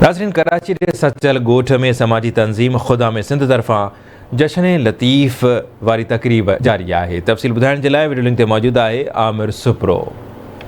ناظرين ڪراچي جي سچل ڳوٺ ۾ سماجي تنظيم خدا ۾ سنڌ طرفان جشن لطيف واري تقريب جاري آهي تفصيل ٻڌائڻ جي لاء وڊيو لنڪ تي موجود آهي عامر سپرو.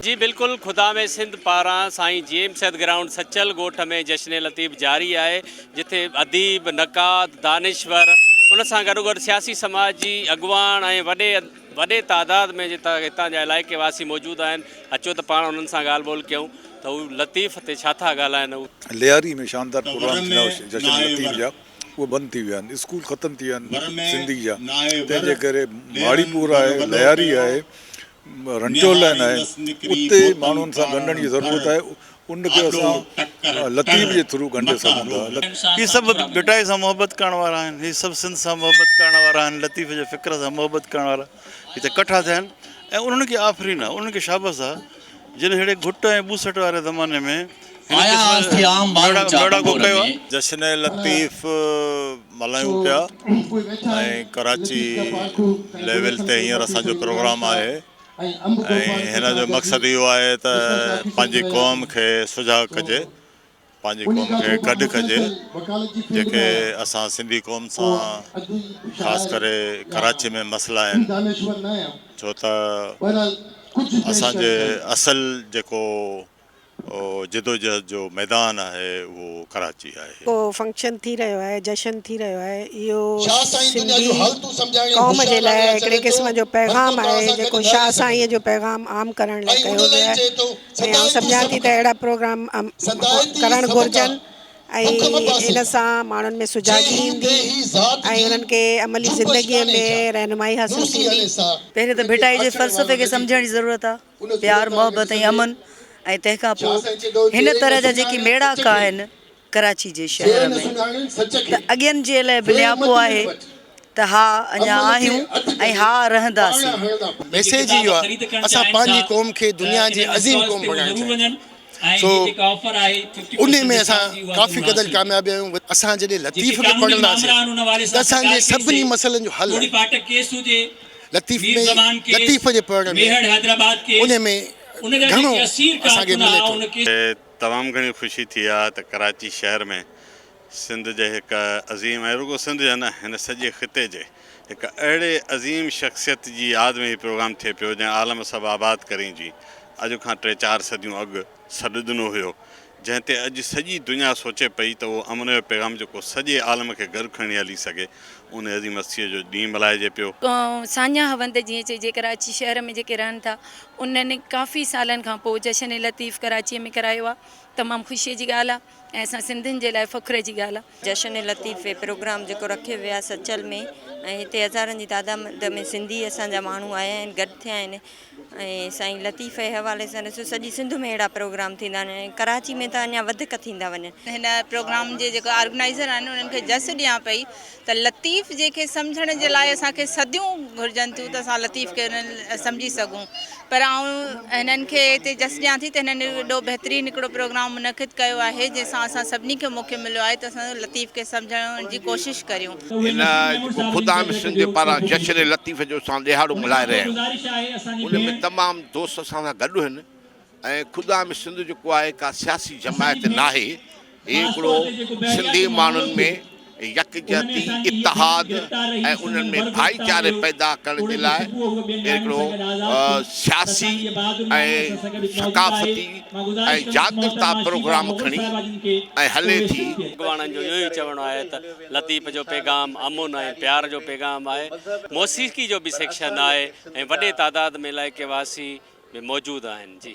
جي بلڪل خدا ۾ سنڌ پاران سائين جي ايم سيد گرائونڊ سچل ڳوٺ ۾ جشن لطيف جاري آهي جتي اديب، نقاد، دانشور ان سان گڏوگڏ سياسي سماجي اڳواڻ ۽ وڏي وڏي تعداد ۾ هتان جا علائقي واسي موجود آهن اچو ته پاڻ انهن سان ڳالهه ٻولهه ڪيون ته هو لطيف تي ڇا ٿا ڳالهائن هو. لياري ۾ شاندار پروگرام ٿيندا هئا جشن لطيف جا اهي بند ٿي ويا آهن اسڪول ختم ٿي ويا آهن سنڌي جا تنهن جي ڪري ماڙي پور آهي لياري آهي رنٽو لائين آهي اتي ماڻهن سان ڳنڍڻ جي ضرورت آهي ان کي اسان لطيف جي ٿرو ڳنڍي سگهون ٿا. هي سڀ ڀٽائي سان محبت ڪرڻ وارا آهن، هي سڀ سنڌ سان محبت ڪرڻ وارا آهن، لطيف جي فڪر سان محبت ڪرڻ وارا هتي ڪٺا ٿيا آهن ۽ انهن کي آفرين آهي، انهن کي شابس آهي، جن ههڙي گهٽ ۽ ٻوسٽ واري زماني ۾ هن قسم ميڙاڪو ڪيو آهي. جشن لطيف ملهايون پيا ۽ ڪراچي ليول تي هينئر اسان جو پروگرام آهي. ۽ هن جو مقصد اهو آهي ته پنهنجي قوم کي سجاڳ ڪجي، پنهنجي قوم کي گڏ ڪجي، جيڪي اسان سنڌي قوم سان خاص ڪري ڪراچي ۾ مسئلا آهن، ڇو ته اسان جي اصل جيڪو جدوجهد جو ميدان آهي اهو ڪراچي آهي. ڪو فنڪشن ٿي رهيو آهي جشن ٿي رهيو آهي اهو سنڌي قوم جي لاء هڪڙي قسم جو پيغام آهي جيڪو شاهه سائين جو پيغام عام ڪرڻ لاء ڪيو ويو آهي ۽ آئون سمجهان ٿي ته اهڙا پروگرام ڪرڻ گهرجن ۽ ان سان ماڻهن ۾ سجاڳي ايندي ۽ انهن کي عملي زندگي ۾ رهنمائي حاصل ٿيندي. پهرين ته ڀٽائي جي فلسفي کي سمجهڻ جي ضرورت آهي. پيار محبت ۽ امن ۽ تنهن کان پوء هن طرح جا جيڪي ميڙاڪا آهن ڪراچي جي شهر ۾ ته اڳين جي لاء به نياپو آهي ته ها اڃا آهيون ۽ ها رهنداسين. ميسيج اهو آهي اسان پنهنجي قوم کي دنيا جي عظيم قوم بڻائڻ چاهيون ٿا. سو انهي ۾ اسان ڪافي قدر ڪامياب آهيون اسان جڏهن لطيف کي پڙهنداسين ته اسان جي سڀني مسئلن جو حل آهي لطيف ۾ لطيف جي پڙهڻ ۾ انهي ۾ گهڻو اسان کي ملي ٿو. تمام گهڻي خوشي ٿي آهي ته ڪراچي شهر ۾ سنڌ جي هڪ عظيم ۽ رڳو سنڌ جي نه هن سڄي خطي جي هڪ اهڙي عظيم شخصيت جي ياد ۾ هي پروگرام ٿئي پيو جنهن عالم سڀ آباد ڪرين جي اڄ کان ٽي چار صديون اڳ سڏ ڏنو هيو جنهن تي اڄ سڄي دنيا سوچي پئي ته اهو امن جو پيغام جيڪو سڄي عالم کي گڏ کڻي هلي سگهي ان عظيم هستيء جو ڏينهن ملهائجي پيو. ساڃاهه وند جيئن چئجي ڪراچي شهر ۾ جيڪي رهن ٿا انهن ڪافي سالن کان پوء جشن لطيف ڪراچيء ۾ ڪرايو آهي تمام خوشيء جي ڳالهه آهي. ۽ اسان سنڌين جي لاء فخر جي ڳالهه آ. جشن لطيفي پروگرام جيڪو رکيو ويو آهي سچل ۾ ۽ هتي هزارن جي تعداد ۾ سنڌي اسان جا ماڻهو آيا آهن گڏ ٿيا آهن ۽ سائين لطيفي جي حوالي سان ڏسو سڄي سنڌ ۾ اهڙا پروگرام ٿيندا آهن ۽ ڪراچي ۾ ته اڃا وڌيڪ ٿيندا وڃن. هن پروگرام جي جيڪو آرگنائيزر آهن انهن کي جس ڏيان پئي. ته لطيف جنهن کي سمجهڻ جي لاء اسان کي صديون گهرجن ٿيون ته اسان لطيف کي انهن سمجهي سگهون پر آئون هنن کي هتي جس ڏيان ٿي ته هنن ايڏو بهترين هڪڙو پروگرام منعقد ڪيو آهي جنهن سان اسان سڀني کي موقعو مليو آهي ته اسان لطيف کي سمجهڻ جي ڪوشش ڪريون. هن جيڪو خدا ۾ سنڌ پاران جشن لطيف جو اسان ڏيهاڙو ملهائي رهيا آهيون ان ۾ تمام دوست اسان سان گڏ هن ۽ خدا ۾ سنڌ جيڪو آهي ڪا سياسي جماعت ناهي هي هڪڙو سنڌي ماڻهن ۾ يڪجهتي اتحاد ۽ انهن ۾ ڀائيچاري پيدا ڪرڻ جي لاء هڪڙو سياسي ۽ ثقافتي ۽ جاڳرتا پروگرام کڻي ۽ هلي ٿي. اڳواڻن جو اهو ئي چوڻ آهي ته لطيف جو پيغام امن ۽ پيار جو پيغام آهي. موسيقي جو به سيڪشن آهي ۽ وڏي تعداد ۾ علائقي واسي به موجود آهن. جي.